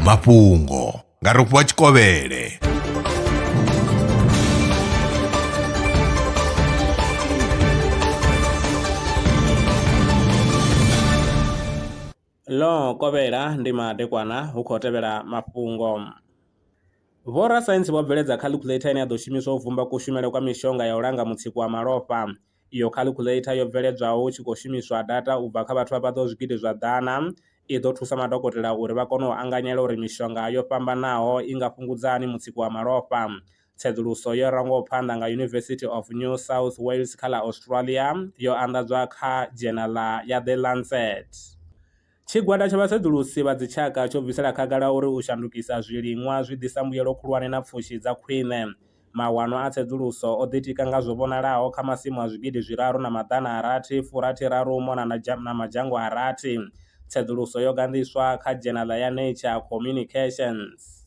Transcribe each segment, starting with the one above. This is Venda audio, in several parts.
mafhungo nga rofhiwa tshikovhele ḽo kovhela ndi madekwana hu khou tevhela mafhungo vhorasaintsi vho bveledza calculator ine ya ḓo shumiswa u vumba kushumele kwa mishonga ya u langa mutsiko wa malofha Iyo khaḽikhuḽeitha yo bveledzwaho hu tshi khou shumiswa data u bva kha vhathu vha paḓaho zwigidi zwa ḓana i ḓo thusa madokotela uri vha kone u anganyela uri mishonga yo fhambanaho i nga fhungudza hani mutsiko wa malofha. Tsedzuluso yo rangwaho phanḓa nga University of New South Wales kha ḽa Australia yo anḓadzwa kha dzhenala ya The Lancet. Tshigwada tsha vhasedzulusi vha dzitshaka tsho bvisela khagala uri u shandukisa zwiliṅwa zwi ḓisa mbuyelo khulwane na pfushi dza khwine. Mawanwa a tsedzuluso o ḓitika nga zwo vhonalaho kha masimu a zwigidi zwiraru na maḓana a rathi fu rathi raru u mona na madzhango a rathi. Tsedzuluso yo ganḓiswa kha dzhenaḽa ya Nature Communications.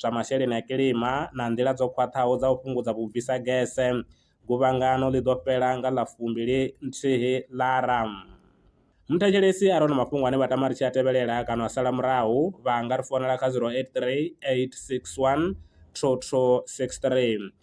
zwa masheleni a kilima na nḓila dzo khwaṱhaho dza u fhungudza vhu bvisa gese. Guvhangano ḽi ḓo fhela nga ḽa fumbili nthihi Lara. Muthetshelesi arali hu na mafhungo ane vha tama ri tshi a tevhelela kana a sala murahu vha nga ri founela kha 0838612263.